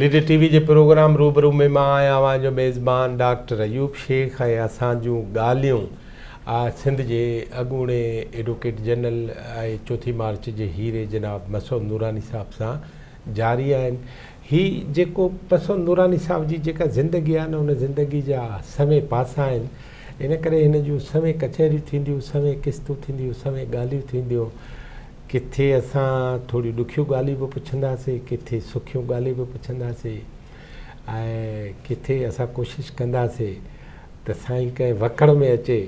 Leader T V جي programme روبرو ۾ مان آهيان اوهان جو ميزبان ڊاڪٽر ايوب شيخ ۽ اسان جون ڳالهيون سنڌ جي اڳوڻي ايڊوڪيٽ جنرل ۽ چوٿين مارچ جي هيري جناب مسعود نوراني صاحب سان جاري آهن هي جيڪو پسو نوراني صاحب جي جيڪا زندگي آهي نه ان زندگي جا سوين پاسا آهن ان ڪري هن جون سوين ڪچهريون ٿينديون سوين قسطون ٿينديون سوين ڳالهيون ٿينديون ڪٿي اسان ٿوريون ڏکيون ڳالهيون به پڇنداسين ڪٿي سکيون ڳالهيون به پڇنداسين ۽ ڪٿي اسان ڪوشش ڪنداسين ته سائين ڪنهن وڪڙ ۾ اچي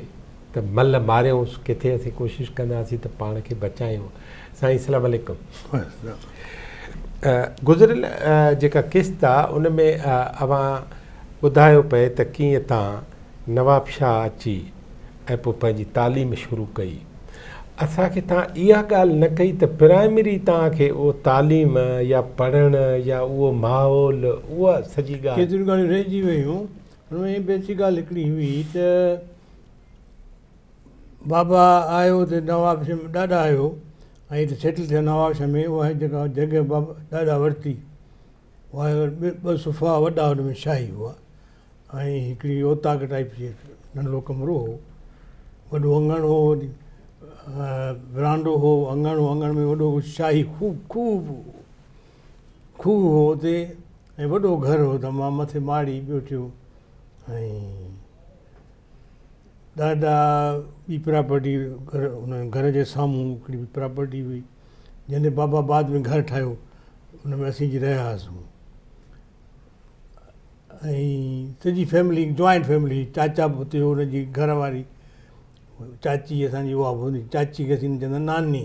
ته ملهه ماريائونس ڪٿي اسين ڪوشش ڪنداسين ته پاڻ کي بچايون سائين اسلام عليڪم گذريل جيڪا قسط آ ان ۾ اوهان ٻڌايو پئي ته ڪيئن تان نواب شاهه اچي ۽ پوء پنهنجي تعليم شروع ڪئي اسان کي تان اها ڳالهه نه ڪئي ته پرائمري تان کي اهو تعليم يا پڙهڻ يا اهو ماحول اها سڄي ڳالهه ڪيتريون ڳالهيون رهجي ويون هن ۾ بيسڪ ڳالهه هڪڙي هئي ته بابا آيو ته نوابشاهه ۾ ڏاڏا آيو ۽ هتي سيٽل ٿيو نوابشاهه ۾ اها جيڪا جڳهه بابا ڏاڏا ورتي اها ٻه صفا وڏا ان ۾ شاهي هئا ۽ هڪڙي اوطاق ٽائيپ جي ننڍڙو ڪمرو هو وڏو اڱڻ هو ورانڊو هو اڱڻ هو اڱڻ ۾ وڏو شاهي خوب خوب کوهه هو اتي ۽ وڏو گهر هو ته مان مٿي ماڙي ٻيٺيو ۽ ڏاڏا ٻي پراپرٽي گهر ان گهر جي سامهون هڪڙي ٻي پراپرٽي هئي جنهن تي بابا بعد ۾ گهر ٺاهيو ان ۾ اسين اچي رهيا هئاسون ۽ سڄي فيملي جوائنٽ فيملي هئي چاچا به اتي هو ان جي گهر واري چاچي اسان جي اها به هوندي چاچي کي اسين چوندا ناني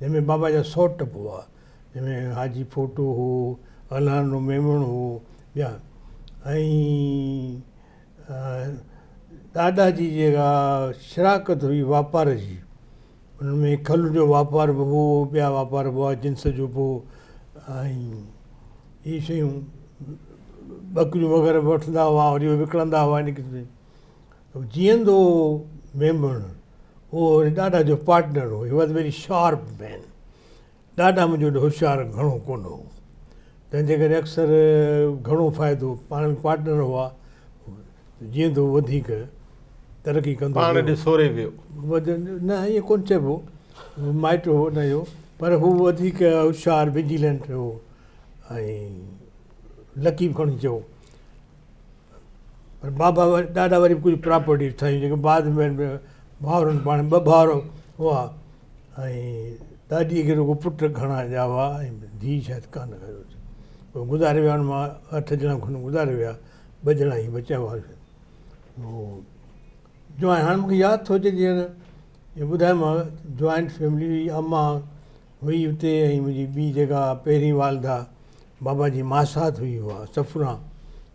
جنهن ۾ بابا جا سؤ ٽپ هئا، جنهن ۾ حاجي ڦوٽو هو، الهانو ميمڻ هو، ٻيا ۽ ڏاڏا جي جيڪا شراڪت هئي واپار جي، ان ۾ کل جو واپار به هو، ٻيا واپار به هئا، جنس جو به ۽ اهي شيون ٻڪريون وغيره به وٺندا هئا وري وڪڻندا هئا ان قسم جي. جيئندو هو ميمڻ اهو وري ڏاڏا جو پارٽنر هو he was very sharp man ڏاڏا منهنجو ايڏو هوشيار گهڻو ڪونه هو تنهن جي ڪري اڪثر گهڻو فائدو پاڻ ۾ پارٽنر هئا جيئندو وڌيڪ ترقي ڪندو پاڻ ڏي سوري ويو نه ائين ڪون چئبو مائٽ هو نه هيو پر هو وڌيڪ هوشيار وجيلنٽ هو ۽ لڪي به کڻي چئو پر بابا وري ڏاڏا وري ڪجهه پراپرٽي ٺاهي جيڪي بعد ۾ ڀاورن پاڻ ٻه ڀاور هئا ۽ ڏاڏي کي رڳو پٽ گهڻا ڄائي هئا ۽ ڌيء شايد ڪا نه هيو هو گذاري ويا ان مان اٺ ڄڻا کن گذاري ويا ٻه ڄڻا هي بچيا هئا جوان هاڻي مون کي ياد ٿو اچي جيئن جو ٻڌايومانو جوائنٽ فيملي اماهه هئي اتي ۽ منهنجي ٻي جيڪا پهرين والده بابا جي ماسات هئي اها صفرا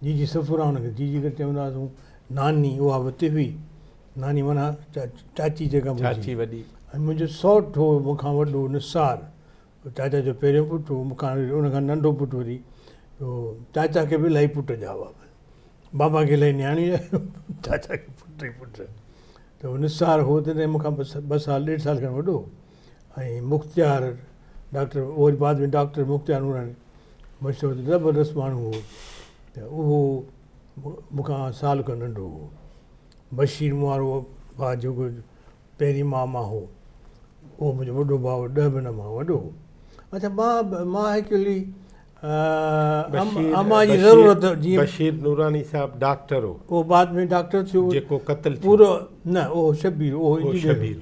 جي جي صفرا ان کي جي جي ڪري چوندا هئاسون ناني اها به اتي هئي ناني معنيٰ چاچي جيڪا چاچي وڏي ۽ منهنجو سوٽ هو مون کان وڏو نثار چاچا جو پهريون پٽ هو مون کان ان کان ننڍو پٽ وري چاچا کي به الاهي پٽ ڄائو هئا بابا کي الاهي نياڻي ڄائو چاچا کي پٽ ئي پٽ ته نثار هو تڏهن مون کان ٻه سال ڏيڍ سال کن وڏو هو ۽ مختيار ڊاڪٽر اهو وري بعد ۾ ڊاڪٽر مختيار نوراني مشهور زبردست ماڻهو هو ته اهو مون کان سال کن ننڍو هو بشير مون وارو ڀاء جيڪو پهرين ماء مان هو اهو منهنجو وڏو ڀاء هو ڏهه مهينا مان وڏو هو اچا مان مان ايڪچولي امان جي ضرورت جي بشير نوراني صاحب ڊاڪٽر هو اهو بعد ۾ ڊاڪٽر ٿيو جيڪو قتل ٿيو پورو نه اهو شبير اهو شبير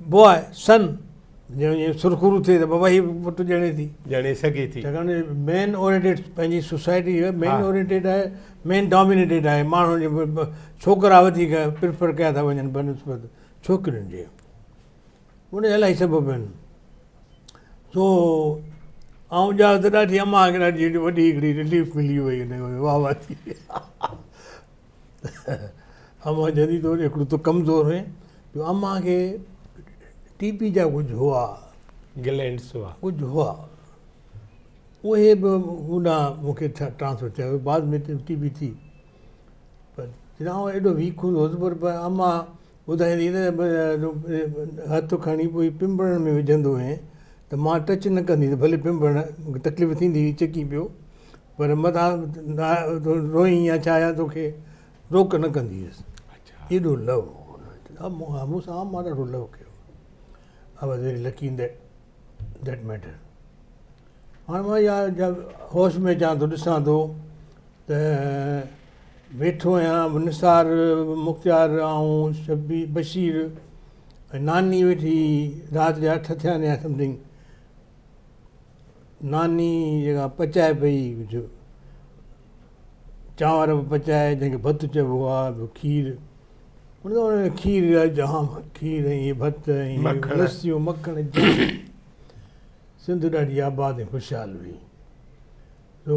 بوء سن ڄڻ جيئن سرخرو ٿئي ته بابا هي پٽ ڄڻي ٿي. ڄڻي سگهي ٿي. ڇاڪاڻ جو مين اورينٽيڊ پنهنجي سوسائٽي مين اورينٽيڊ آهي، مين ڊامينيٽيڊ آهي، ماڻهن جي ڇوڪرا وڌيڪ پريفر ڪيا ٿا وڃن بنسبت ڇوڪرين جي. ان جا الاهي سبب آهن. سو آئون ڄائو ته ڏاڍي امان کي ڏاڍي وڏي هڪڙي رليف ملي وئي ان ۾ واهه واهه ٿي وئي. امان جني طور ايترو ته ڪمزور هئي جو امان کي ٽي پي جا ڪجهه هئا گلينڊس هئا ڪجهه هئا اهي به هو نه مون کي ڇا ٽرانسفر ٿيا بعد ۾ ٽي پي ٿي پر چونائو ايڏو ويڪ هوندو هوس پر امان ٻڌائيندي نه هٿ کڻي پوء پنبڻ ۾ وجهندو هئين ته مان ٽچ نه ڪندي ته ڀلي پنبڻ کي تڪليف ٿيندي هئي چڪي پيو پر مداح روئين يا ڇا يا توکي روڪ نه ڪندي هيس ايڏو لو هو مون سان عام مان ڏاڍو لو ڪيو I was very lucky in that matter هاڻ مان يا هوش ۾ اچان ٿو ڏسان ٿو ته ويٺو آهيان به نثار مختيار آئون شبي بشير ۽ ناني ويٺي رات جا اٺ ٿيا آهن يا سمٿنگ ناني جيڪا پچائي پئي جو چانور به پچائي جنهن کي ڀت چئبو آهي ٻيو کير ان ۾ کير جا جام کير ۽ ڀت ۽ مکڻ. لسيون مکڻ جام سنڌ ڏاڍي آباد ۽ خوشحال هئي سو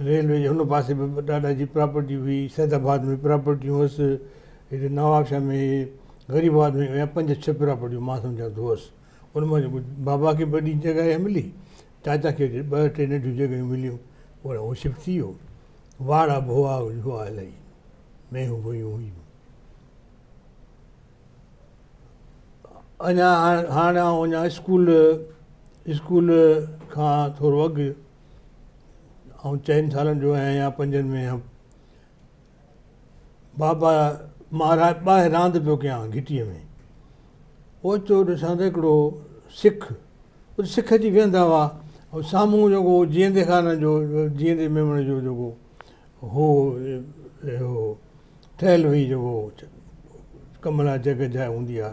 ريلوي جي هن پاسي به ڏاڏا جي پراپرٽي هئي، سيد آباد ۾ پراپرٽيون هئس، هتي نواب شاهه ۾ غريب آباد ۾ اهي پنج ڇهه پراپرٽيون مان سمجهان ٿو هئس، ان مان جيڪو بابا کي ٻه ٽي جڳهه اها ملي، چاچا کي هتي ٻه ٽي ننڍيون جڳهيون مليون، پوء هو شفٽ ٿي ويو، واڙا به هئا هئا الائي مينهون ڀويون هيون. اڃا هاڻ آئون اڃا اسڪول اسڪول کان ٿورو اڳ آئون چئن سالن جو آهيان يا پنجن ۾ هيم بابا مان ٻاهر راند پيو ڪيان گهٽيء ۾ اوچتو ڏسان ته هڪڙو سک سک اچي ويهندا هئا سامهون جيڪو جيئندي خان جو جيئندي ميمڻ جو جيڪو هو اهو ٺهيل هئي جو هو ڪمرا جڳهه جاء هوندي آ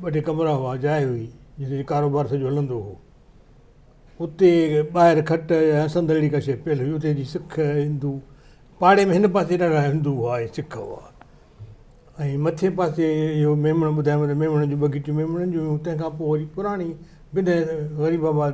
ٻه ٽي ڪمرا هئا جاء هئي جتي جي ڪاروبار سڄو هلندو هو اتي ٻاهر کٽ يا سندر اهڙي ڪا شيء پيل هئي اتي جي سک هندو پاڙي ۾ هن پاسي ڏاڍا هندو هئا ۽ سک هئا ۽ مٿي پاسي اهو ميمڻ ٻڌايو ته ميمڻن جون ٻه گهٽيون ميمڻن جون هيون تنهن کان پوء وري پراڻي بنهه غريب آباد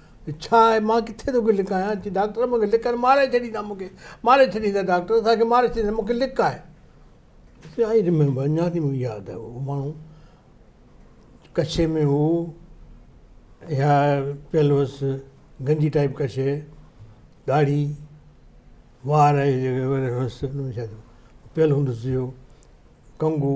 ڇا آهي مان ڪٿي توکي لڪايان؟ چي ڊاڪٽر مون کي لڪ آهي ماري ڇڏيندا مون کي ماري ڇڏيندا ڊاڪٽر اسان کي ماري ڇڏيندا مون کي لڪ آهي چي آئي ريميمبر اڃا تائين مون کي ياد آهي اهو ماڻهو ڪڇي ۾ هو اها پيل هوس گنجي ٽائيپ ڪڇي ڏاڙهي وار هيس پيل هوندس اهو ڪنگو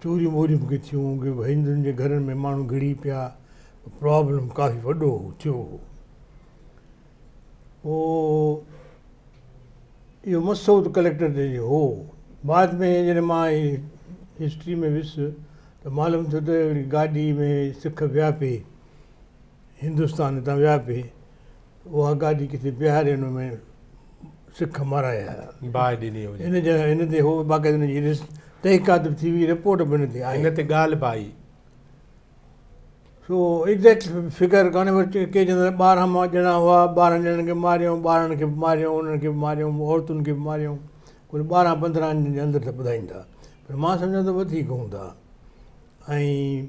چوريون ٻوريون به ڪي ٿيون ڪي هندن جي گهرن ۾ ماڻهو گهڙي پيا پرابلم ڪافي وڏو هو ٿيو هو پوء اهو مسئلو ته ڪليڪٽر تي جو هو بعد ۾ جڏهن مان هي هسٽري ۾ ويس ته معلوم ٿيو ته هڪڙي گاڏي ۾ سک ويا پي هندستان تان ويا پي اها گاڏي ڪٿي بيهارينو ۾ سک مارائي آيا. باهه ڏني هجي. ان جي ان تي هو باقاعده ان جي تحقيقات به ٿي هئي، رپورٽ به ان تي آئي. ان تي ڳالهه به آئي. سو ايگزيڪٽ فگر ڪانه پر ڪي چون ٿا ته ٻارهن مان ڄڻا هئا، ٻارهن ڄڻن کي ماريائون، ٻارڙن کي به ماريائون، انهن کي به ماريائون، عورتن کي به ماريائون. ڪل ٻارهن پندرهن جي اندر ته ٻڌائين ٿا. پر مان سمجهان ٿو وڌيڪ هوندا. ۽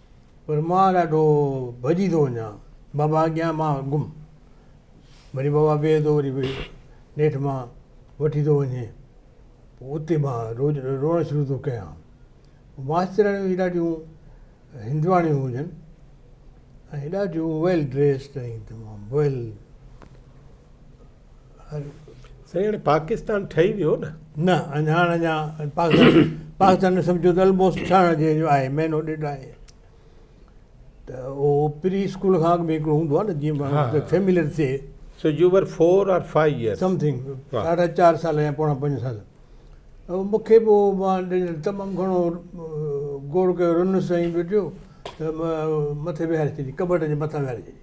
پر مان ڏاڍو ڀڄي ٿو وڃان بابا اڳيان مان گم وري بابا بيهي ٿو وري نيٺ مان وٺي ٿو وڃي پوء اتي مان روز روئڻ شروع ٿو ڪيان ماسترياڻيون به ڏاڍيون هندواڻيون هجن ۽ ڏاڍيون ويل ڊريسڊ ۽ تمام ويل سائين پاڪستان ٺهي ويو نه نه اڃا هاڻ اڃا پاڪستان پاڪستان ۾ سمجھو ته الموسٽ ٺهڻ جي جو آهي مهينو ڏيڍ آهي ته اهو پري اسڪول کان اڳ ۾ هڪڙو هوندو آهي نه جيئن ماڻهو فيملر ٿئي سو you were 4 or 5 years something ساڍا چار سال يا پوڻا پنج سال مونکي به مان تمام گھڻو گوڙ ڪيو رنس ۽ ويڊيو ته مٿي ويهاري ڇڏي ڪٻٽ جي مٿان ويهاري ڇڏي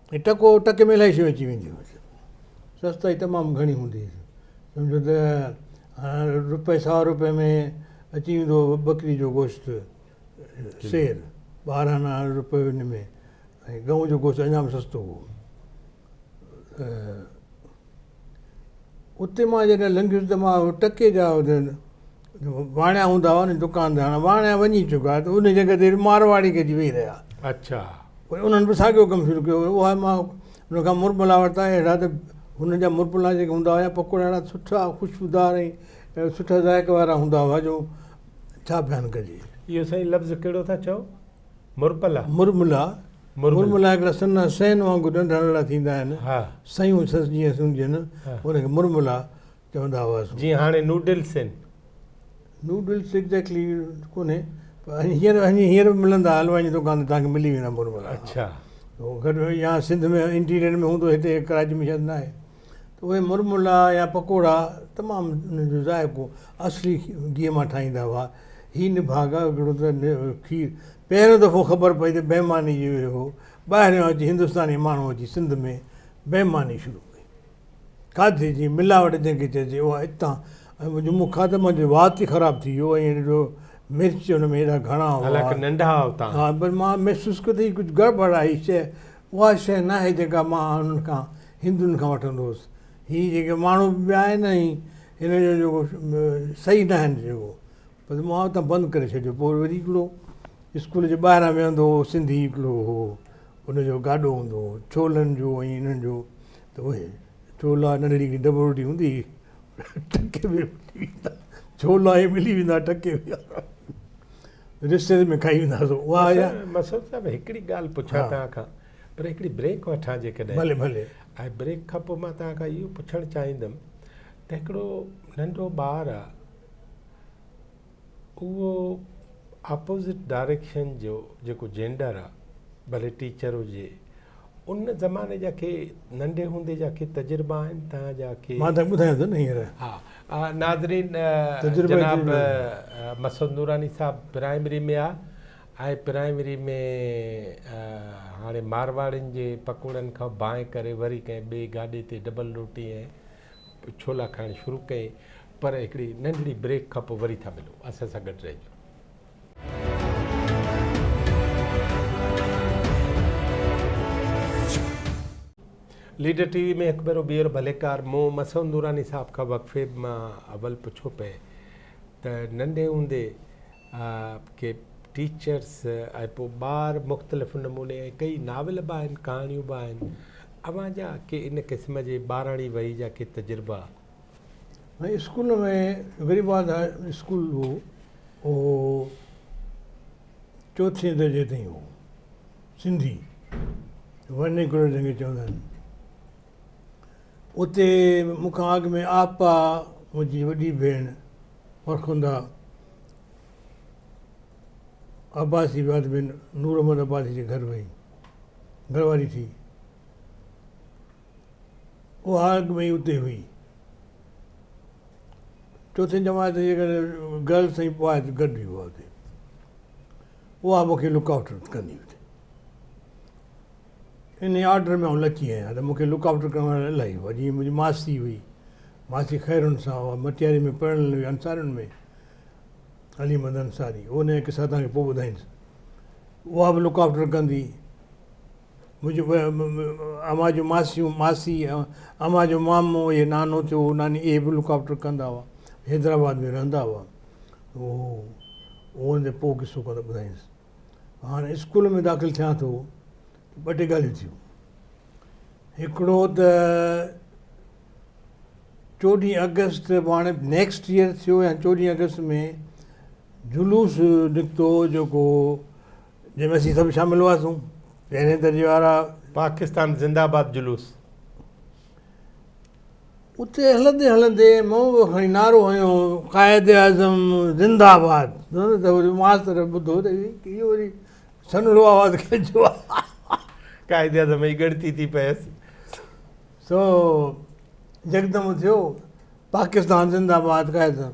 هي ٽڪو ٽڪي ۾ الائي شيون اچي وينديون هيون. سستائي تمام گهڻي هوندي هيس. سمجهو ته روپئي سوا روپئي ۾ اچي ويندو هو ٻڪري جو گوشت سير ٻارهن آنا روپئي ان ۾ ۽ ڳئون جو گوشت اڃا به سستو هو. اتي مان جڏهن لنگهيس ته مان اهي ٽڪي جا واڻيا هوندا هئا ني دڪان تي هاڻي واڻيا وڃي چڪا ته ان جڳهه تي مارواڙي گڏجي ويهي رهيا اڇا وئي انهن به ساڳيو ڪم شروع ڪيو هو اهي مان ان کان مرملا ورتا اهڙا ته هن جا مرملا جيڪي هوندا هيا پڪوڙا اهڙا سٺا خوشبودار ۽ سٺا ذائقي وارا هوندا هئا جو ڇا بيان ڪجي اهو سائين لفظ ڪهڙو ٿا چئو مرملا، مرملا، مرملا هڪڙا سنها سئن وانگر ننڍا ننڍا ٿيندا آهن، سيون سس جيئن سمجهن، ان کي مرملا چوندا هئاسون. جيئن هاڻي نوڊلس آهن. نوڊلس ايگزيڪٽلي ڪونهي پر هينئر هينئر به ملندا حلوائن جي دڪان تي توهانکي ملي ويندا مرملا. اڇا. يا سنڌ ۾ انٽيريئر ۾ هوندو هتي ڪراچي ۾ شايد ناهي. ته اهي مرملا يا پڪوڙا تمام انهن جو ذائقو اصلي گيهه مان ٺاهيندا هئا. هي نڀاڳا گهڙو ته کير پهريون دفعو خبر پئي ته بيماني جو اهي هو. ٻاهريان اچي هندستاني ماڻهو اچي سنڌ ۾ بيماني شروع ڪئي. کاڌي جي ملاوٽ جنهن کي چئجي اها اتان ۽ جو مون کاڌو منهنجو وات ئي خراب ٿي ويو ۽ ڏٺو مرچ ان ۾ ايڏا گهڻا هئا. حالانڪه ننڍا هئا اتان. ها پر مان محسوس ڪيو ته هي ڪجهه گڙٻڙ آهي هي شيء اها شيء ناهي جيڪا مان انهن کان، هندن کان، وٺندو هوس. هي جيڪي ماڻهو به ٻيا آهن ۽ هن جو جيڪو صحيح ناهن جيڪو بس مان اتان بند ڪري ڇڏيو. پوء وري هڪڙو اسڪول جي ٻاهران ويهندو هو سنڌي هڪڙو هو ان جو گاڏو هوندو هو ڇولن جو ۽ انهن جو ته اهي ڇولا ننڍڙي هڪڙي ڊٻوڙي هوندي هئي ٽڪي ۾ ملي ويندا ڇولا هي ملي ويندا ٽڪي ۾ رشتيداري ۾ کائي ويندا سو اها آهي مسعود صاحب هڪڙي ڳالهه پڇان توهان کان پر هڪڙي بريڪ وٺان جيڪڏهن ڀلي ڀلي ۽ بريڪ کان پوء مان توهان کان اهو پڇڻ چاهيندم ته هڪڙو ننڍو ٻار آهي اهو اپوزٽ ڊائريڪشن جو جيڪو جينڊر آهي ڀلي ٽيچر هجي ان زماني جا ڪي ننڍي هوندي جا ڪي تجربا آهن توهان جا ڪي مان ته ٻڌايان ٿو نه هينئر ها ناظرين جناب مسعود نوراني صاحب پرائمري ۾ آ ۽ پرائمري ۾ هاڻي مارواڙين جي پڪوڙن کان بانء ڪري وري ڪنهن ٻي گاڏي تي ڊبل روٽي ۽ ڇولا کائڻ شروع ڪئي پر هڪڙي ننڍڙي بريڪ کان پوء وري ٿا ملون اسان سان گڏ رهجو ليڊر ٽي وي ۾ هڪ ڀيرو ٻيهر ڀليڪار مون مسعود نوراني صاحب کان وقفي مان اول پڇيو پئي ته ننڍي هوندي ڪي ٽيچرس ۽ پوء ٻار مختلف نموني ۽ ڪئي ناول به آهن ڪهاڻيون به آهن اوهان جا ڪي ان قسم جي ٻاراڻي وئي جا ڪي تجربا ۽ اسڪول ۾ غريب آڌار اسڪول هو اهو چوٿين درجي تائين هو سنڌي ورنيڪولر جنهن کي چوندا آهن اتي مون کان اڳ ۾ آپا منهنجي وڏي ڀيڻ فرخندا عباسي بعد ۾ نور محمد عباسي جي گهر وئي گهر واري ٿي اها اڳ ۾ ئي اتي هئي. چوٿين جماعت جي ڪري گرلس ۽ بوائز گڏجي هئا اتي. اها مون کي لڪ آئوٽ ڪندي اتي. انهي آرڊر ۾ آئون لچي آهيان ته مون کي لڪ آئوٽ ڪرڻ وارا الاهي هئا. جيئن منهنجي ماسي هئي. ماسي خيرن سان اها مٽياري ۾ پرڻيل هئي انصارين ۾ علي محمد انصاري. انهي جا قصا توهان کي پوء ٻڌائينس. اها به لڪ آئوٽ ڪندي. منهنجي اوهان جون ماسيون ماسي اوهان جو مامو اهي نانو ٿيو ناني اهي به لڪاوٽر ڪندا هئا حيدرآباد ۾ رهندا هئا هو هن جو پوء قصو ڪندا ٻڌائينس هاڻي اسڪول ۾ داخل ٿيان ٿو ٻه ٽي ڳالهيون ٿيون هڪڙو ته چوڏهين اگست به هاڻي نيڪسٽ ايئر ٿيو يا چوڏهين اگست ۾ جلوس نڪتو جيڪو جنهن ۾ اسين سڀ شامل هئاسون، پهرين درجي وارا. پاڪستان زنده آباد جلوس. اتي هلندي هلندي مون به کڻي نعرو هنيو قائد اعظم زنده آباد ته وري ماستر ٻڌو ته هي وري سنهڙو آواز ڪنهنجو آهي. قائد اعظم جي ڳڻتي ٿي پيس. سو يڪدم اٿيو پاڪستان زنده آباد قائد اعظم.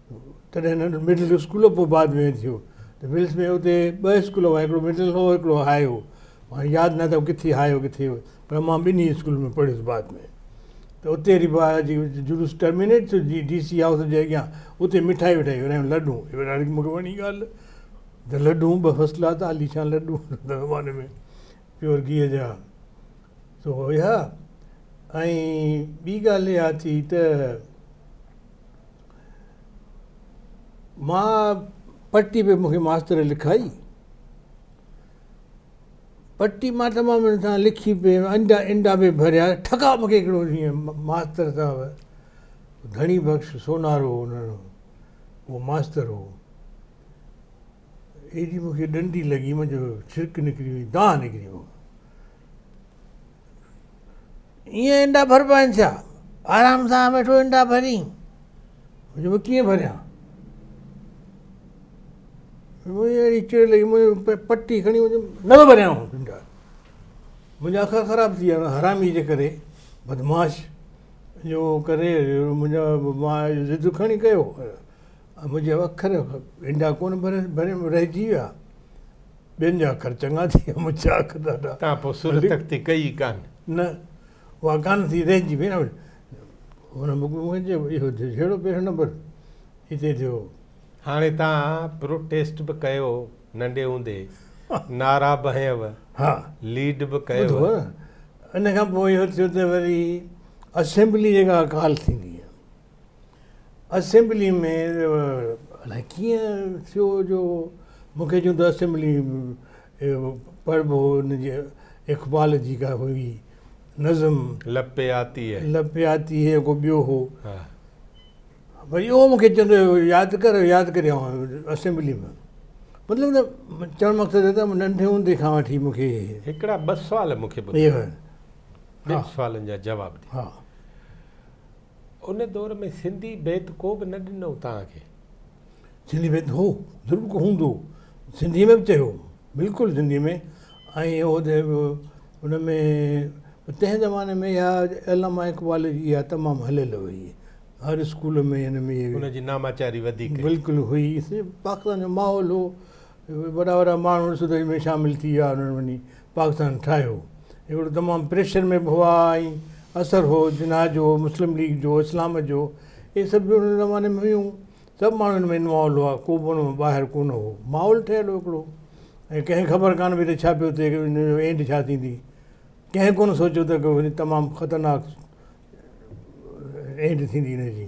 تڏهن ننڍو مڊل اسڪول پوء بعد ۾ ٿيو ته ملس ۾ اتي ٻه اسڪول هئا هڪڙو مڊل هو هڪڙو هاء هو هاڻي ياد ناهي ته ڪٿي هاء هو ڪٿي پر مان ٻنهي اسڪول ۾ پڙهيس بعد ۾ ته اتي ري با جي جلوس ٽرمينيٽ ٿيو جي ڊي سي هائوس جي اڳيان اتي مٺائي وٺائي ورهايون لڏون ورهايو مون کي وڻي ڳالهه ته لڏون ٻه فرسٽ ڪلاس ته عاليشان لڏون هن زماني ۾ پيور گيهه جا سو هيا ۽ ٻي ڳالهه اها ٿي ته مان پٽي به مون کي ماستر لکائي پٽي مان تمام ان سان لکي پي انڊا انڊا به ڀريا ٺڪا مون کي هڪڙو ڏينهن ماستر صاحب ڌڻي بخش سونارو هو انهن اهو ماستر هو ايڏي مون کي ڏنڊي لڳي مون جو ڇرڪ نڪري وئي دانهن نڪري مون ائين انڊا ڀربا آهن ڇا آرام سان ويٺو انڊا ڀرين مون چيو ڪيئن ڀريان مون کي اهڙي چڙ لڳي مون پٽي کڻي مون چيم نه ٿو ڀريان آئون انڊا منهنجا اکا خراب ٿي ويا حرامي جي ڪري بدمعاش جو ڪري منهنجا ماء ضد کڻي ڪيو منهنجا اکر هنڊا ڪونه ڀريم رهجي ويا. ٻين جا اکر چڱا ٿي ويا منهنجا اک ڏاڍا. تان پوء سر تختي ڪئي ئي ڪانه. نه اها ڪانه ٿي رهجي ويا. هن مون کي چيو اهو جهڙو پهريون نمبر هتي ٿيو. هاڻي تان پروٽيسٽ به ڪيو ننڍي هوندي نعرا به هنيو ليڊ به ڪيو. ٻڌو ان کان پوء اهو ٿيو ته وري اسيمبلي جيڪا ڪال ٿيندي اسيمبلي ۾ الاء ڪيئن ٿيو جو مون کي جون ته اسيمبلي پڙهبو هو ان جي اقبال جي ڪا هئي نظم لپي آتي هي لپي آتي هي ڪو ٻيو هو وري اهو مون کي چوندو هو ياد ڪر ياد ڪري آئون اسيمبلي ۾ مطلب ته چوڻ مقصد ته ننڍي هوندي کان وٺي مون کي هڪڙا ٻه سوال مون کي ٻڌايو ٻن سوالن جا جواب ڏي ان دور ۾ سنڌي بيت ڪو به نه ڏنو توهان کي. سنڌي بيت هو ضرور ڪو هوندو سنڌي ۾ به چيو بلڪل سنڌي ۾ ۽ هو ته ان ۾ تنهن زماني ۾ اها علامه اقبال جي اها تمام هليل هئي هر اسڪول ۾ هن ۾ ان جي ناماچاري وڌيڪ بلڪل هئي پاڪستان جو ماحول هو وڏا وڏا ماڻهو سڌائي ۾ شامل ٿي ويا انهن وڃي پاڪستان ٺاهيو هڪڙو تمام پريشر ۾ به هئا ۽ اثر هو جناح جو مسلم ليگ جو اسلام جو اهي سڀ به ان زماني ۾ هيون سڀ ماڻهو ان ۾ انوالو هئا ڪو به ان مان ٻاهر ڪونه هو ماحول ٺهيل هو هڪڙو ۽ ڪنهن خبر ڪانه پئي ته ڇا پيو ٿئي ان جو اينڊ ڇا ٿيندي ڪنهن ڪونه سوچيو ته تمام خطرناڪ اينڊ ٿيندي ان جي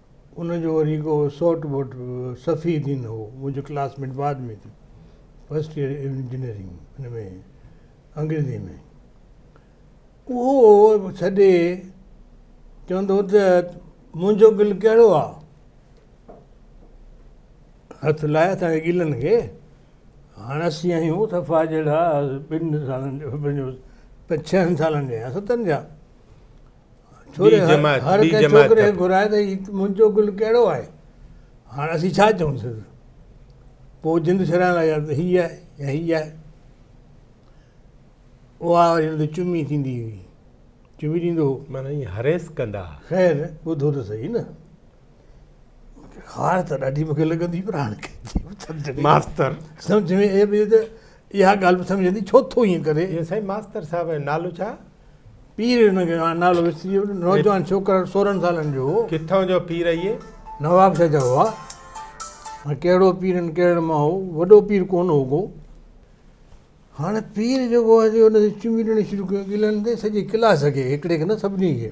ان جو وري ڪو سوٽ ووٽ صفي الدين هو منهنجو ڪلاس ميٽ بعد ۾ ٿي فرسٽ ايئر انجنيئرنگ ان ۾ انگريزي ۾ اهو ڇڏي چوندو ته منهنجو گل ڪهڙو آ هٿ لائي اسان گلن کي هاڻ اسين آهيون صفا جهڙا ٻن سالن جو پنجن سالن جا يا ستن جا ڇوڙي هر ڪنهن ڇوڪري کي گهرائي ته هي منهنجو گل ڪهڙو آهي هاڻ اسين ڇا چئون سندس پوء جند ڇڏائڻ لاء ته هي آهي يا هي آهي اها وري هن تي چمي ٿيندي هئي چمي ڏيندو هو معنيٰ هريس ڪندا خير ٻڌو ته سهي نه خار ته ڏاڍي مون کي لڳندي پر هاڻ کي ماستر سمجھ ۾ اهي به ته اها ڳالهه به سمجھ ايندي ڇو ٿو ائين ڪري يا سائين ماستر صاحب نالو ڇا پير ان کي نالو وسري ويو نوجوان ڇوڪر 16 سالن جو هو ڪٿان جو پير اهي نواب شاهه جو هو هاڻ ڪهڙو پير ان ڪهڙن مان هو وڏو پير ڪون هو ڪو هاڻ پير جو هو جو ان کي چمي ڏيڻ شروع ڪيو ڳلن تي سڄي ڪلاس کي هڪڙي کي نه سڀني کي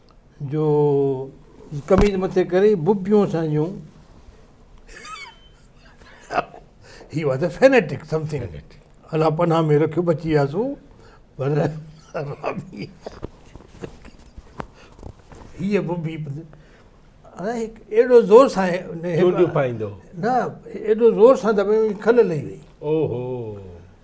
جو قميص مٿي ڪري ببيون سهنجون he was a فينيٽڪ SIM thing الله پناهه ۾ رکيو بچي وياسون پر هيء ببي ايڏو زور سان نه ايڏو زور سان ته کل لهي وئي اوهو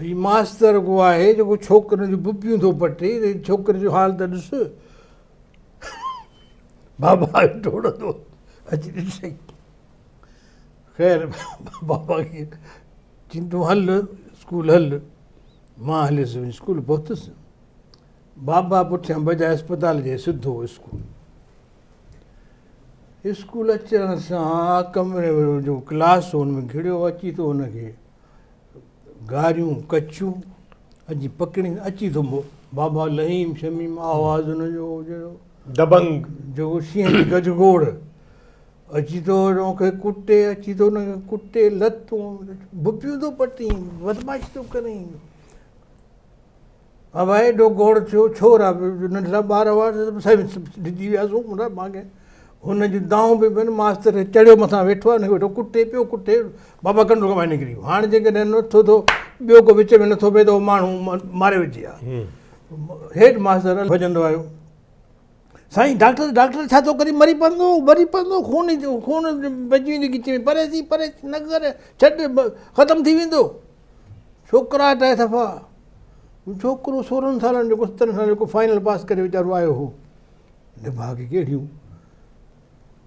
هي ماستر اڳو آهي جيڪو ڇوڪرين جون ببيون ٿو پٽي ته هن ڇوڪري جو حال ته ڏس بابا ڊوڙندو اچي ڏسي خير بابا کي چين تون هل اسڪول هل مان هليس وڃي اسڪول پهتس بابا پٺيان بجاء اسپتال جي سڌو اسڪول اسڪول اچڻ سان ڪمري ۾ جو ڪلاس هو ان ۾ گهڙيو اچي ٿو ان کي گاريون ڪچيون اڄ پڪڙي اچي ٿو بابا لهيم شميم آواز ان جو دبنگ جو شينهن جي گج گوڙ اچي ٿو ان کي ڪٽي اچي ٿو ان کي ڪٽي لتون بپيون ٿو پٽين بدمعاشي ٿو ڪرين هوء ايڏو گوڙ ٿيو، ڇور آ، ننڍڙا ٻار هئا، سائين ويس ڊڄي وياسون، ان مان ماڳهين هن جون دانهون به پين، ماستر چڙهيو مٿان ويٺو آ، هن کي ويٺو ڪٽي پيو، ڪٽي بابا ڪنڊو ڪم آهي نڪري ويو، هاڻ جيڪڏهن هن وٽ ٿو ٿو، ٻيو ڪو وچ ۾ نٿو بيهي ته هو ماڻهو ماري وجهي آ، هيڊ ماستر ڀڄندو آيو. سائين ڊاڪٽر ڊاڪٽر ڇا ٿو ڪري مري پوندو مري پوندو خون خون بچي ويندي ڳچيء ۾ پري ٿي پري ٿي نه ڪر ڇڏ ختم ٿي ويندو ڇوڪراٽ آهي صفا ڇوڪرو سورهن سالن جو ستن سالن جو فائنل پاس ڪري ويچارو آيو هو نڀاڳي ڪهڙيون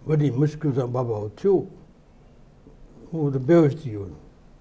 وڏي مشڪل سان بابا اٿيو هو ته بيهوش ٿي ويو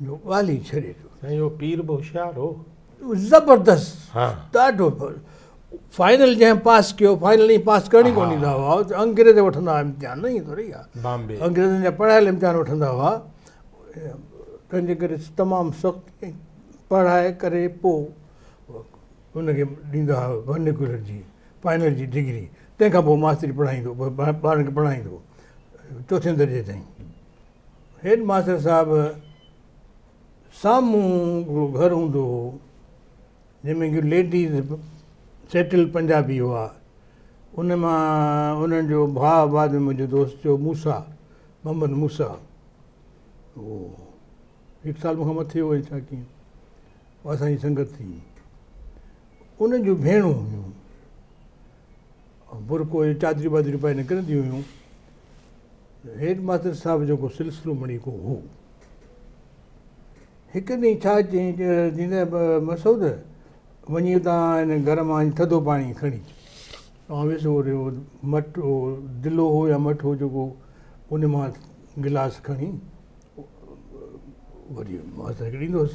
جو ڳالهي ڇڏي ٿو. سائين اهو پير به هوشيار هو. زبردست ها ڏاڍو فائنل جنهن پاس ڪيو فائنل ائين پاس ڪرڻي ڪون ڏيندا هئا انگريز وٺندا هئا امتحان نه ائين ٿوري آهي بامبي انگريزن جا پڙهايل امتحان وٺندا هئا تنهنجي ڪري تمام سخت پڙهائي ڪري پو ان کي ڏيندا هئا ورنيڪولر جي فائنل جي ڊگري تنهن کان پوء ماستري پڙهائيندو ٻارن کي پڙهائيندو چوٿين درجي تائين هيڊ ماستر صاحب سامهون هڪڙو گهر هوندو هو جنهن ۾ ڪي ليڊيز سيٽل پنجابي هئا ان مان انهن جو ڀاء بعد ۾ منهنجو دوست ٿيو موسيٰ محمد موسيٰ هو هڪ سال مون کان مٿي هو ڇا ڪيئن اسان جي سنگت ٿي ان جون ڀيڻون هيون برقعو يا چادريون بادريون پائي نڪرنديون هيون. هيڊ ماستر صاحب جو ڪو سلسلو مڙئي ڪو هو. هڪ ڏينهن ڇا چيائين چيائين ته مسعود وڃي اتان هن گهر مان ٿڌو پاڻي کڻي اچ. آئون ويس اهو مٽ اهو دلو هو يا مٽ هو جيڪو ان مان گلاس کڻي وري ماستر کي ڏيندو هوس.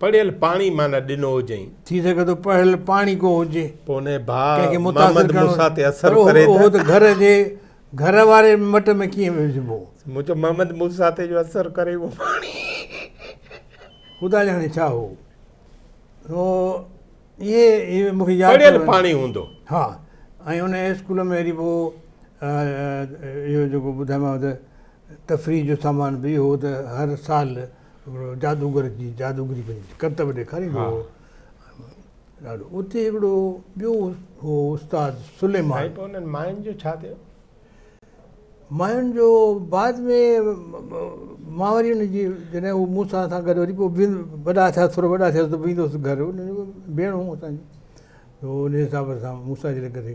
پڙهيل پاڻي معنيٰ ڏنو هجئين. ٿي سگهي ٿو پڙهيل پاڻي ڪو هجي. پوء ان جي ڀاء محمد موسيٰ تي اثر ڪري ته. اهو ته گهر جي گهر واري مٽ ۾ ڪيئن وجهبو. مون چيو محمد موسيٰ تي جو اثر ڪري اهو پاڻي. خدا ڄاڻي ڇا هو. سو اهي اهي مون کي ياد. پڙهيل پاڻي هوندو. ها ۽ ان اسڪول ۾ وري پوء اهو جيڪو ٻڌايومانو ته تفريح جو سامان به اهو هو ته هر سال. هڪڙو جادوگر جي جادوگري پنهنجي ڪرتب ڏيکاريندو هو ڏاڍو اتي هڪڙو ٻيو هو استاد سليمان سائين پوء انهن ماين جو ڇا ٿيو؟ ماين جو بعد ۾ مان وري ان جي جڏهن هو مون سان سان گڏ وري پوء بي وڏا ٿيا ٿورو وڏا ٿيا ته ويندو هوس گهر ان جي ڀيڻ هيون اسان جون ان حساب سان مون سان اچي ڪري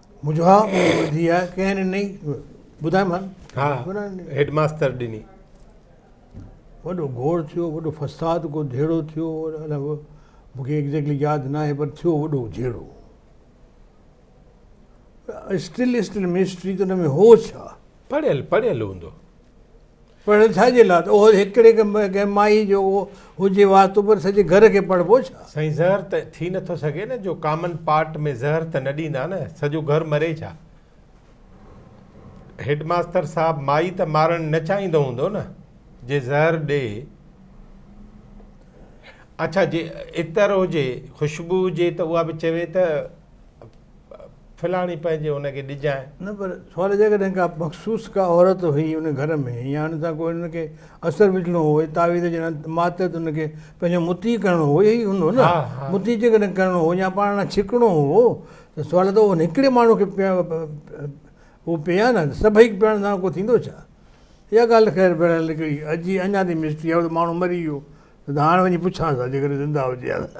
مجھا ٻڌي آ ڪنهن ڏني ٻڌايو مان ها هيڊ ماستر ڏني وڏو گوڙ ٿيو وڏو فساد ڪو جھيڙو ٿيو مونکي ايگزيڪٽلي ياد نه آهي پر ٿيو وڏو جھيڙو اسٽل اسٽل مسٽري ته ان ۾ هو ڇا پڙهيل پڙهيل هوندو. پڙهيل ڇا جي لاء ته اهو هڪڙي ڪنهن مائي جو هجي واسطو پر سڄي گهر کي پڙهبو ڇا. سائين زهر ته ٿي نٿو سگهي نه جو ڪامن پارٽ ۾ زهر ته نه ڏيندا نه سڄو گهر مري ڇا. هيڊ ماستر صاحب مائي ته مارڻ نه چاهيندو هوندو نه جي زهر ڏي اڇا جي عطر هجي خوشبو هجي ته اها به چوي ته. ڦلاڻي پنهنجي ان کي ڏجانء. نه پر سوال جي ڪڏهن ڪا مخصوص ڪا عورت هئي ان گهر ۾ يا ان سان ڪو ان کي اثر وجهڻو هو اهي تعويذ جهڙا ماتحت ان کي پنهنجو مطيع ڪرڻو هو اهي ئي هوندو نه مطيع جي ڪڏهن ڪرڻو هو يا پاڻ ڏانهن ڇڪڻو هو ته سوال ته ان هڪڙي ماڻهو کي اهو پئي آهي نه ته سڀئي پيئڻ سان ڪو ٿيندو ڇا؟ اها ڳالهه ته خير بهرحال هڪڙي عجيب اڃا تائين مسٽري آهي هو ته ماڻهو مري ويو ته هاڻ وڃي پڇانس ها جيڪڏهن زنده هجي ها ته.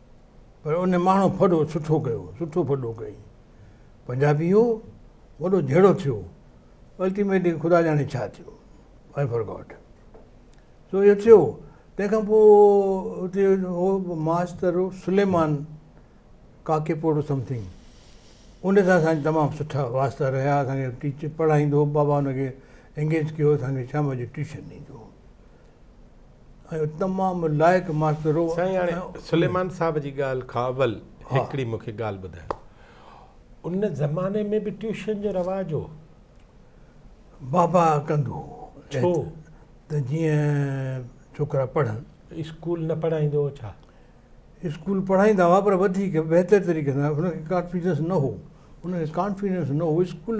پر ان ماڻهو ڦڏو سٺو ڪيو، سٺو ڦڏو ڪيائين. پنجابي هو، وڏو جهيڙو ٿيو. الٽيميٽلي خدا ڄاڻي ڇا ٿيو. آء فرگاٽ. سو اهو ٿيو. تنهن کان پوء اتي هو master Suleman Kakepoto something. ان سان اسان جا تمام سٺا واسطا رهيا. اسان کي ٽيچر پڙهائيندو هو. بابا ان کي انگيج ڪيو اسان کي شام جو ٽيوشن ڏيندو هو. ۽ تمام لائق ماستر هو. سائين هاڻي سليمان صاحب جي ڳالهه کان اول هڪڙي مون کي ڳالهه ٻڌايو. ان زماني ۾ به ٽيوشن جو رواج هو؟ بابا ڪندو هو. ڇو؟ ته جيئن ڇوڪرا پڙهن. اسڪول نه پڙهائيندو هو ڇا؟ اسڪول پڙهائيندا هئا پر وڌيڪ بهتر طريقي سان ان کي ڪانفيڊنس نه هو. ان کي ڪانفيڊنس نه هو اسڪول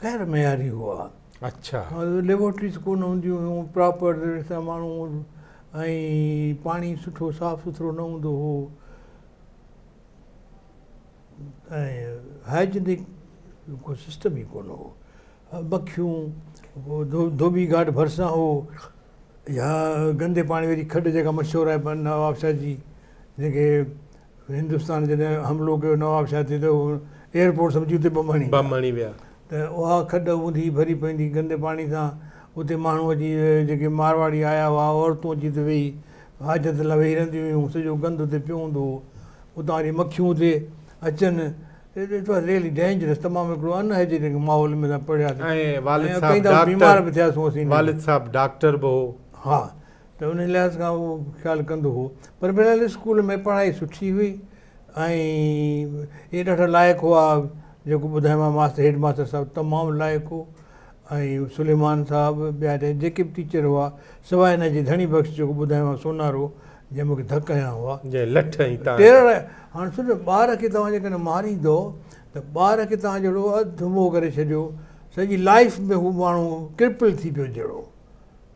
غير معياري هئا. ليبارٽريز ڪونه هونديون هيون پراپر طرح سان ماڻهو ۽ پاڻي سٺو صاف سٿرو نه هوندو هو ۽ هائجينڪ ڪو سسٽم ئي ڪونه هو مکيون ڌوٻي گهاٽ ڀرسان هو يا گندي پاڻي واري کڏ جيڪا مشهور آهي نوابشاهه جي جيڪي هندستان جڏهن حملو ڪيو نوابشاهه تي ته ايئرپورٽ سمجهي اتي بم هڻي ويا ته اها کڏ اوندهي ڀري پوندي گندي پاڻي سان اتي ماڻهو اچي جيڪي مارواڙي آيا هئا عورتون اچي اتي ويهي حاجت لاء ويهي رهنديون هيون سڄو گند اتي پيو هوندو هو اتان واري مکيون اتي اچن اٽ واز ريئلي ڊينجرس تمام هڪڙو ان هائجينڪ ماحول ۾ اسان پڙهياسين ۽ ڪئين دفعا بيمار به ٿياسون اسين والد صاحب ڊاڪٽر به هو ها ته ان لحاظ کان اهو خيال ڪندو هو پر بهرحال اسڪول ۾ پڙهائي سٺي هئي ۽ اهي ڏاڍا لائق هئا جيڪو ٻڌايومانء ماستر هيڊ ماستر صاحب تمام لائق هو ۽ سليمان صاحب ٻيا جا جيڪي به ٽيچر هئا سواء هن جي ڌڻي بخش جيڪو ٻڌايومانء سونارو جنهن مونکي ڌڪ هنيا هئا جنهن لٺ هنئي تان ٽيرڙ هاڻ سمجهو ٻار کي توهان جيڪڏهن ماريندو ته ٻار کي توهان جهڙو اڌ مئو ڪري ڇڏيو سڄي لائف ۾ هو ماڻهو ڪرپل ٿي پيو جهڙو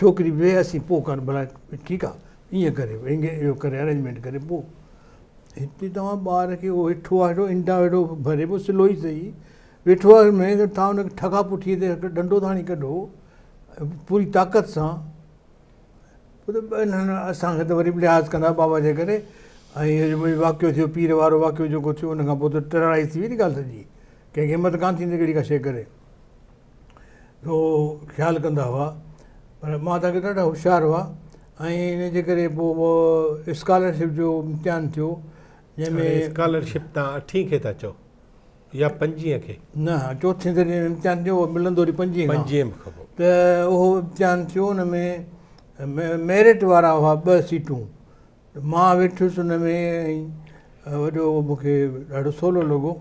ڇوڪري ويهه اسين پوء ڪارڊ بڻائي ٺيڪ آ ايئن ڪري اهو ڪري ارينجمينٽ ڪري پوء هتي توهان ٻار کي اهو هيٺو آهي هيٺو انڊا هيٺو ڀري پوء سلو ئي سهي ويٺو آهي مين ته توهان ان کي ٺڳا پٺي تي هڪ ڏنڊو ٿا هڻي ڪڍو پوري طاقت سان پوء ته انهن اسانکي ته وري به لحاظ ڪندا بابا جي ڪري ۽ اهو واقعو ٿيو پير وارو واقعو جيڪو ٿيو ان کان پوء ته ٽرڙائي ٿي وئي ني ڳالهه سڄي ڪنهن کي همت ڪانه ٿيندي اهڙي ڪا شيء ڪري ٿورو خيال ڪندا هئا پر ماتا کي ڏاڍا هوشيار هئا ۽ ان جي ڪري پوء هو اسڪالرشپ جو امتحان ٿيو جنهن ۾ اسڪالرشپ تان اٺين کي ٿا چئو يا پنجين کي نه چوٿين درجي ۾ امتحان ٿيو ملندو وري پنجين پنجين کان پوء ته اهو امتحان ٿيو ان ۾ ميرٽ وارا هئا ٻه سيٽون ته مان ويٺس ان ۾ ۽ وڏو مون کي ڏاڍو سولو لڳو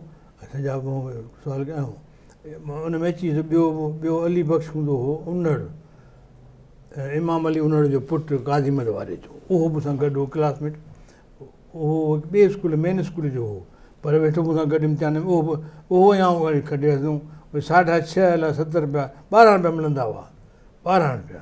۽ سڄا مون کي سوال ڪيا ۽ مان ان ۾ اچي سگهيو ٻيو علي بخش هوندو هو انڙ امام علي انڙ جو پٽ قاضي محمد واري جو اهو مون سان گڏ هو ڪلاس ميٽ اهو هڪ ٻئي اسڪول مين اسڪول جو هو پر ويٺو مون سان گڏ امتحان ۾ اهو به اهو ۽ آئون واري کٽياسون ساڍا ڇهه الائي ست رپيا ٻارهن رپيا ملندا هئا ٻارهن رپيا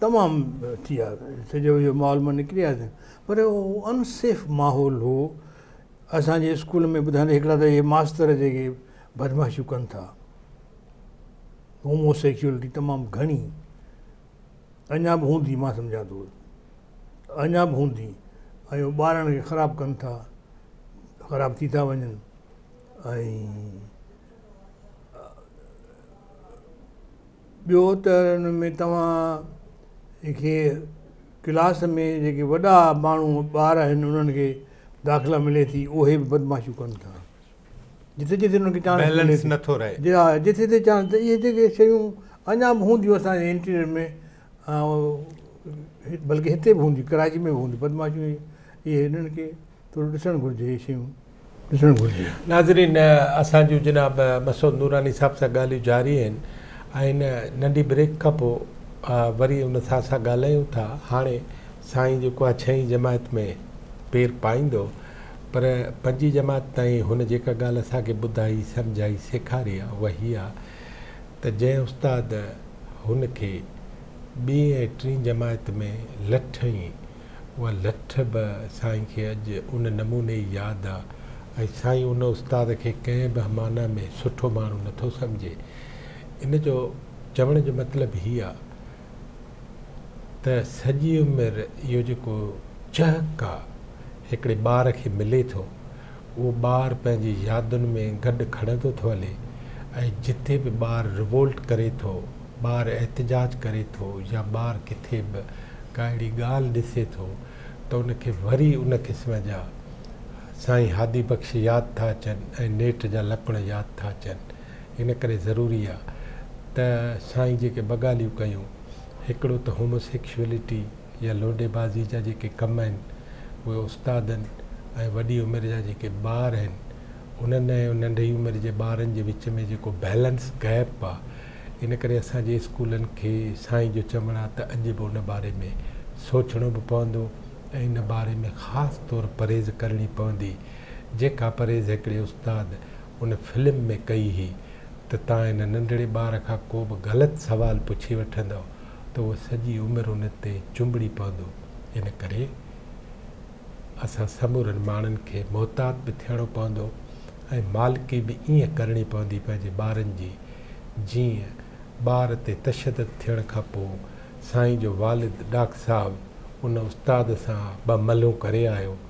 تمام ٿي ويا سڄو اهو ماحول مان نڪري آياسين پر اهو ان سيف ماحول هو اسان جي اسڪول ۾ ٻڌائيندي هڪڙا ته اهي ماستر جيڪي بدمعاشيون ڪن ٿا هومو سيڪيورٽي تمام گهڻي اڃا به هوندي مان سمجهان ٿو اڃا به هوندي ۽ ٻارن کي خراب ڪن ٿا خراب ٿي ٿا وڃن ۽ ٻيو ته ان ۾ توهان کي ڪلاس ۾ جيڪي وڏا ماڻهو ٻار آهن انهن کي داخلا ملي ٿي اهي به بدمعاشيون ڪن ٿا جتي جتي انهن کي چانس ملي ٿي بيلنس نٿو رهي. جي ها جتي جتي چانس ته اهي جيڪي شيون اڃا به هونديون اسان جي انٽيريئر ۾ ها بلڪه هتي به هونديون ڪراچي ۾ به هونديون بدمعاشيون اهي انهن کي ٿورو ڏسڻ گهرجي هي شيون ڏسڻ گهرجي. ناظرين اسان جون جناب مسعود نوراني صاحب سان ڳالهيون جاري آهن ۽ هن ننڍي بريڪ کان پو وري ان سان اسان ڳالهايون ٿا هاڻي سائين جيڪو آهي ڇهين جماعت ۾ پير پائيندو پر پنجين جماعت تائين هن جيڪا ڳالهه اسان کي ٻڌائي سمجهائي سيکاري آهي اها هي آهي ته جنهن استاد هن کي ٻين ۽ ٽين جماعت ۾ لٺ ۽ اها لٺ به سائين کي اڄ ان نموني ئي ياد آ ۽ سائين ان استاد کي ڪنهن به معنيٰ ۾ سٺو ماڻهو نه ٿو سمجهي. ان جو چوڻ جو مطلب هي آ ته سڄي عمر اهو جيڪو چهڪ آ هڪڙي ٻار کي ملي ٿو، اهو ٻار پنهنجي يادن ۾ گڏ کڙندو ٿو هلي ۽ جتي به ٻار ريوولٽ ڪري ٿو، ٻار احتجاج ڪري ٿو يا ٻار ڪٿي به ڪا اهڙي ڳالهه ڏسي ٿو ته ان کي وري ان قسم جا سائين هادي بخش ياد ٿا اچن ۽ نيٺ جا لڪڻ ياد ٿا اچن ان ڪري ضروري آهي ته سائين جيڪي ٻه ڳالهيون ڪيون هڪڙو ته هوموسيڪشوئلٽي يا لوڏي بازي جا جيڪي ڪم آهن اهي استادن ۽ وڏي عمر جا جيڪي ٻار آهن انهن ۽ ننڍي عمر جي ٻارن جي وچ ۾ جيڪو بيلنس گيپ آ ان ڪري اسان جي اسڪولن کي سائين جو چوڻ آ ته اڄ به ان باري ۾ سوچڻو به پوندو ۽ ان باري ۾ خاص طور پرهيز ڪرڻي پوندي جيڪا پرهيز هڪڙي استاد ان فلم ۾ ڪئي هئي ته تان هن ننڍڙي ٻار کان ڪو به غلط سوال پڇي وٺندؤ ته هو سڄي عمر ان تي چنبڙي پوندو، ان ڪري اسان سمورن ماڻهن کي محتاط به ٿيڻو پوندو ۽ مالڪي به ائين ڪرڻي پوندي پنهنجي ٻارن جي، جيئن ٻار تي تشدد ٿيڻ کان پوء سائين جو والد ڏاڪ صاحب ان استاد سان ٻه ملهون ڪري آيو،